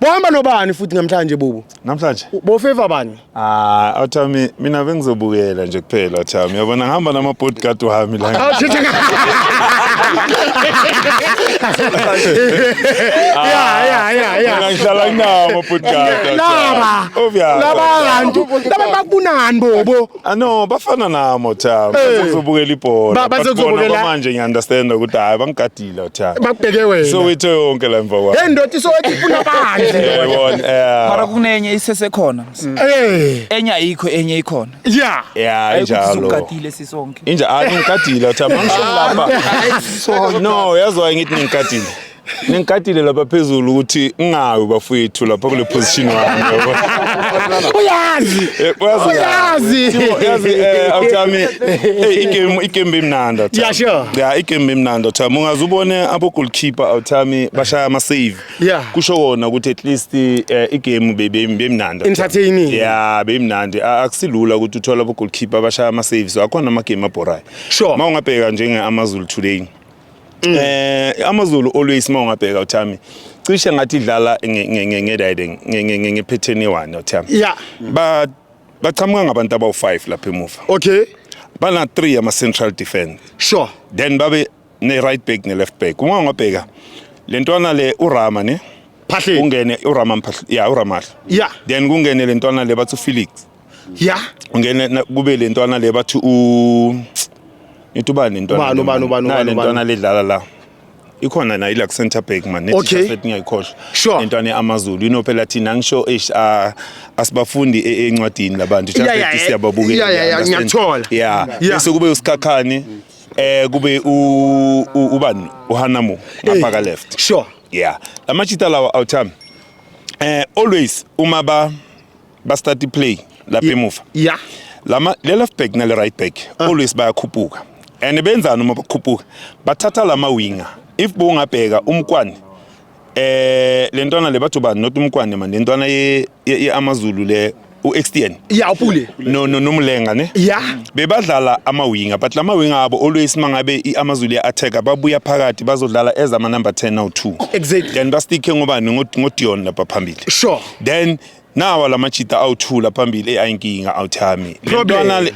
Bohamba nobani futhi namhlanje bubu? Namhlanje? Bofeva bani? Ah, awuthami mina bengizobukela nje kuphela awuthami. Yabona ngihamba nama bodyguard wami la. Yeah, yeah, yeah, yeah. Mina ngihlala nginawo ama bodyguard. Laba. Obvious. Laba kantu. Laba bakunani bobo? Ah no bafana nami Thami Eh. bazobukela ibhola Ba- But bazokuzobukela- bona manje ngiunderstand ukuthi hayi bangigadile Thami bakubheke wena Soweto yonke la mva kwami hey ndoda isowethi ifuna bandle yayibona mara eh kunenye isesekhona Eh, enye ayikho enye ikhona ya yeah ayikho injalo sizokukatile sisonke inja ah ngigadile Thami angisho lapha no yazwa ngithi ngigadile Ningikatile lapha phezulu ukuthi ngingawi bafowethu lapha kule position wami. Uyazi. Eh, uyazi. Uyazi. Thibo, Uyazi eh awuthami. Hey igame igame imnandi awuthami. Yeah, sure. Yeah igame imnandi awuthami. Ungaze ubone abo goalkeeper awuthami bashaya ama save. Yeah. Kusho kona ukuthi at least eh, igame bebe bemnandi. Entertaining. Yeah bemnandi. A- Akusilula ukuthi uthola abo goalkeeper bashaya ama saves. Akhona ama game abhorayo. Sure. Mawungabheka njenge Amazulu today. Mm. Eh AmaZulu always mawungabheka uThami cishe ngathi idlala nge-riding ngephetheni one uThami. Yeah. Ba baqhamuka ngabantu abawu-5 lapha emuva. Okay. Bana 3 ama central defense. Sure. Then babe ne right back ne left back. Uma ungabheka lentwana le uRama ne phahle kungene urama mphahle ya uramahle ya then kungene lentwana le bathu felix ya ungene na- kube le ntwana le bathi u nithi ubani le ntwana Ubani, le, ubani, man? ubani, Nayi ubani, le ubani? ntwana ledlala la ikhona nayo ila center back man nethi Okay. Jafet ngiyayikhohlwa Sure. le ntwana eAmazulu ino phela thina ngisho eish ah, asibafundi e- encwadini labantu Yeah, yeah, eh, siyababukela yeah, yeah, yeah, understand? ngiyakuthola. yeah Yeah. bese kube usikhakhane eh kube u u- ubani uHanamo ngapha ka left sure yeah amachita lawa awuthami eh always uma ba ba start i play lapha emuva yeah lama le left back nale right back ah. always bayakhuphuka and benzani uma bakhuphuka bathatha lama winger if bongabheka umkwani eh lentwana le bathu bani not umkwani manje lentwana ye, ye, ye amazulu le uXTN ya upule no no nomulenga ne ya bebadlala amawinga but lamawinga abo always mangabe iAmazulu ya attacker babuya phakathi bazodlala ezama number 10 now 2 exactly then basticke ngobani ngodion lapha phambili sure then nawa la machita awuthula phambili eyi ayinkinga awuthami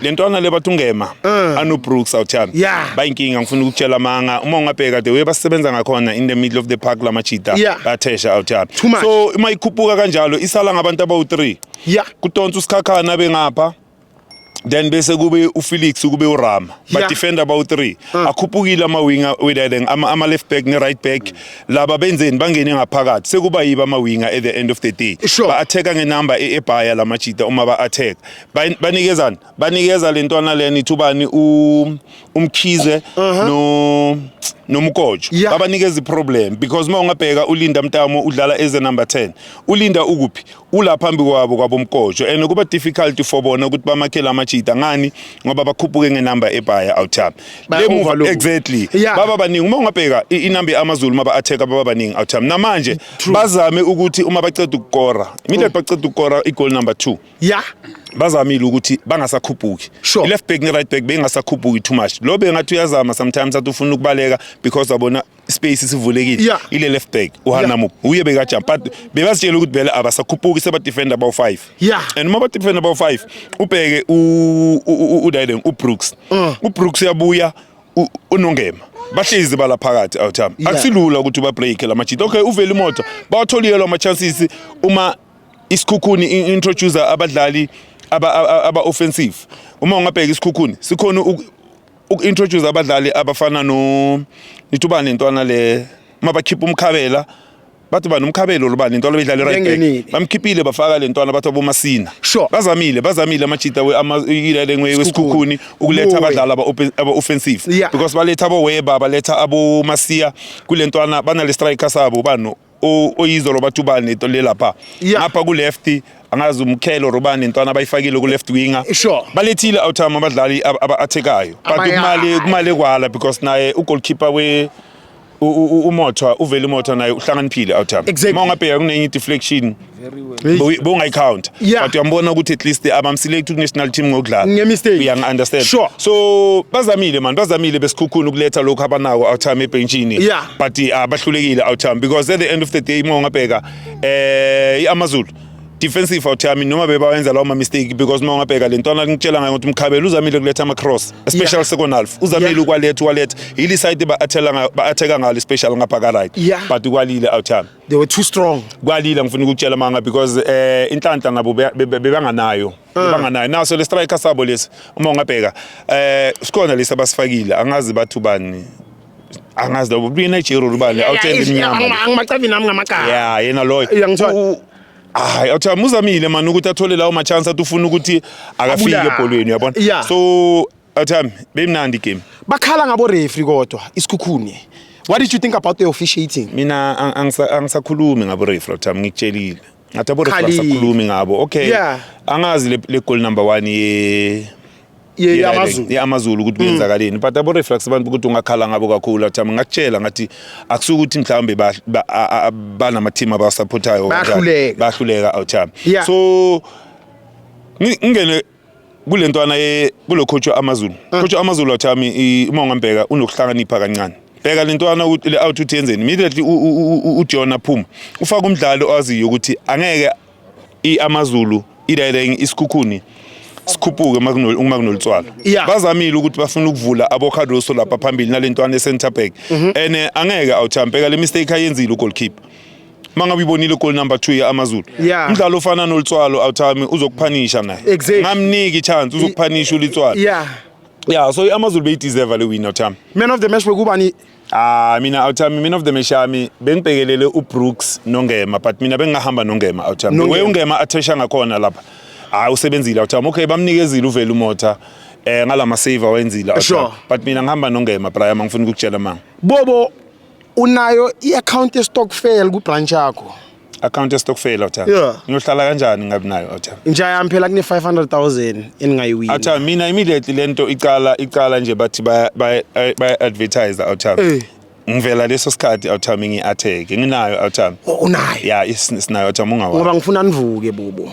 le ntwana le bathi ungema uh. anobrooks awuthami yeah. bayinkinga ngifuna ukutshela amanga uma ungabheka the way basebenza ngakhona in the middle of the park la machita yeah. bathesha awuthami so uma ikhuphuka kanjalo isala ngabantu abawu-three yeah. kutonsa usikhakhana bengapha then bese kube uFelix kube uRama yeah. but defend about 3 mm. akhuphukile ama winger wedadeng ama, ama left back ne right back mm. laba benzeni bangene ngaphakathi sekuba yiba ama winger at the end of the day sure. ba attack nge number e ebhaya lama cheetah uma ba attack banikezana banikeza lentwana leni thubani u umkhize uh -huh. no nomkojo yeah. babanikeza iproblem because uma ungabheka ulinda mtamo udlala eze number 10 ulinda ukuphi ula phambi kwabo kwabomkojo and kuba difficult for bona ukuthi bamakhele amachita ngani ngoba bakhuphuke ngenumber ebhaya outtime le move exactly yeah. baba baningi uma ungabheka inumber amazulu maba attack baba baningi outtime namanje bazame ukuthi uma baceda ukukora mina mm. baceda ukukora igoal number 2 yeah bazamile ukuthi bangasakhuphuki sure. left back ne right back bengasakhuphuki too much lo bengathi uyazama sometimes athi ufuna ukubaleka because abona space sivulekile yeah. ile left back uhanamuk yeah. uye bekajumpa but bebazitshela ukuthi vele abasakhuphuki sebadefenda abawu-5 yeah. and uma badefenda abawu-5 ubheke udiden ubrooks uh. ubrooks uyabuya unongema bahlezi bala phakathi awuthami yeah. akusilula ukuthi ubabreake la majita okay uvele imoto bawatholiyelwa ama-chances uma isikhukhuni introducer abadlali aba-offensive aba, aba uma ungabheka isikhukhuni sikhona uku-introduce abadlali abafana no nithi ubani intwana le uma bakhipha umkhabela bathi bani umkhabelo lobani intwana beyidlale right Yengenile. back bamkhiphile bafaka le ntwana bathi abomasina Sure. bazamile bazamile amajita we- ama- ilele ngwe- wesikhukhuni ukuletha Buwe. abadlali aba- open- aba-offensive Yeah. because baletha aboweba baletha abomasiya kule ntwana banale striker sabo bano oyizolo bathi ubani into le lapha Yeah. ngapha ku-left angazi umkhelo or ubani intwana abayifakile ku-left winger Sure. balethile outime abadlali ab- aba-athekayo but Abaya- kumali kumali kwala because naye ugoalkeeper we u- u- u- umothwa uvele umothwa naye uhlakaniphile outime Exactly. uma ungabheka kunenye i-deflection bowungayicounter yeah. but uyambona ukuthi at least abamselect ku-national team ngokudlalauyang-understand sure. so bazamile mani bazamile besikhukhuni ukuletha lokhu abanako outime ebhentshini yeah. but uh, ah, bahlulekile outime because at the end of the day uma ungabheka eh i-amazulu defensive out yami noma bebawenza lawo ma-mistake because uma ungabheka le ntwana ngitshela ngayo ukuthi umkhabela uzamile kuletha ama-cross especially yeah. second half uzamile yeah. ukwaletha ukwaletha yile side ba-atheka ngalo especially ngapha ka-right yeah. but ukwalile out yami they were too strong kwalila ngifuna ukutshela manga because eh inhlanhla ngabo be- be- be- bebanganayo bebanganayo naso le striker sabo lesi uma ungabheka eh sikhona lesi abasifakile angazi bathu bani angazi labo buye Nigeria ubani awutshela iminyama angimacabi nami ngamagama yeah yena loyo Yeah, ngithola. U- hayi awuthiwa muzamile mani ukuthi athole lawo machance athi ufuna ukuthi akafike Abulale. ebholweni uyabona Yeah. so Athami, beyimnandi game. Bakhala ngabo referee kodwa isikhukhune. What did you think about the officiating? Mina angisakhulumi ngabo referee Athami ngikutshelile. Ngathi abo referee asakhulumi ngabo. Okay. Yeah. Angazi le, le goal number 1 ye yamazulu yamazulu ukuthi mm. kwenzakaleni but abo reflex abantu ukuthi ungakhala ngabo kakhulu athi ngakutshela ngathi akusuka ukuthi mhlawumbe banama team abasupportayo bahluleka bahluleka awuthami so ngingene kule ntwana kulo coach amazulu ah. coach amazulu wathami uma ungambheka unokuhlakanipha kancane bheka le ntwana le out uthi yenzeni immediately uJohn aphuma ufaka umdlalo owaziyo ukuthi angeke iamazulu idireng isikhukhuni sikhuphuke uma kunolitswalo bazamile ukuthi bafuna ukuvula abocardoso lapha phambili nale ntwana e-centre back mhm. and eh, angeke awuthampeka le mistake ayenzile ugoalkeeper uma ngabe uyibonile goal number 2 yeAmazulu Yeah. umdlalo ofana nolitswalo awuthami uzokuphanisha naye Exactly. ngamniki chance uzokuphanisha ulitswalo yeah yeah so iAmazulu beyideserve le win awuthami man of the match bekubani Ah mina awuthami mina of the match yami bengibhekelele uBrooks noNgema but mina bengingahamba noNgema awuthami Nongema. we uNgema athesha ngakhona lapha hayi usebenzile awuthami okay bamnikezile uvela umotha eh ngalama save awenzile awuthami Sure. but mina ngihamba noNgema Brian angifuni ukukutshela manga bobo unayo i-account yestokfel kubranch yakho account yestokfel otha yeah. ngiyohlala kanjani ngabi nayo otha nja yami phela kune 500000 eningayiwini otha mina immediately lento icala icala nje bathi baya baya advertise otha hey. Eh. ngivela leso sikhathi awuthami ngi-atheke nginayo awuthami oh, unayo ya sinayo awuthami ungawa ngoba ngifuna nivuke bubu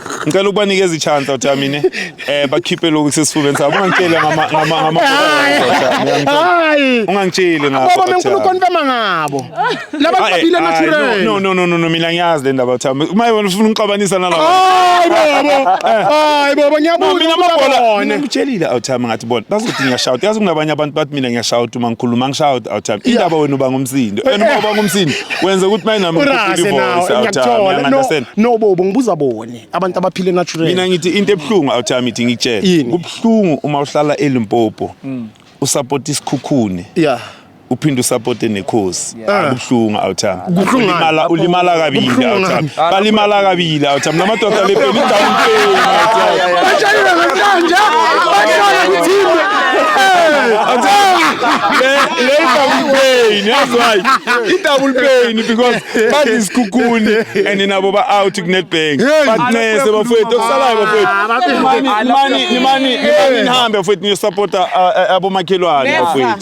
ngicela ukubanikeza ichance uthi mina eh bakhiphe lokhu sesifubeni sabo ungangitsheli ngama ngama ngama hayi ungangitsheli ngabo baba menkulu konfirma ngabo laba babile natural no no no no mina ngiyazi le ndaba uthi uma yona ufuna ukuxabanisa nalabo hayi baba eh. hayi baba ngiyabuza mina amabhola ngitshelile uthi ngathi bona bazothi ngiyashouta yazi kunabanye abantu bathi mina ngiyashouta uma ngikhuluma ngishouta uthi indaba wena uba ngumsindo wena uba ngumsindo wenze ukuthi maye nami urase nawo ngiyakuthola no no bobo ngibuza bone abantu abaphile natural mina ngithi into ebhlungu awuthami ithi ngitshele kubhlungu uma uhlala elimpopo mm. usupport isikhukhune yeah uphinde usupporte nekhosi akubhlungu awuthami ulimala ulimala kabili awuthami balimala kabili athi mina amadoda le peli down pay bashayile kanje bashayile kuthimbe le double pain that's why i double pain because bathi isikhukhuni and nabo ba out ku netbank batnese bafowethu okusalayo bafowethu mani mani mani nihambe bafowethu niyo supporta abomakhelwane bafowethu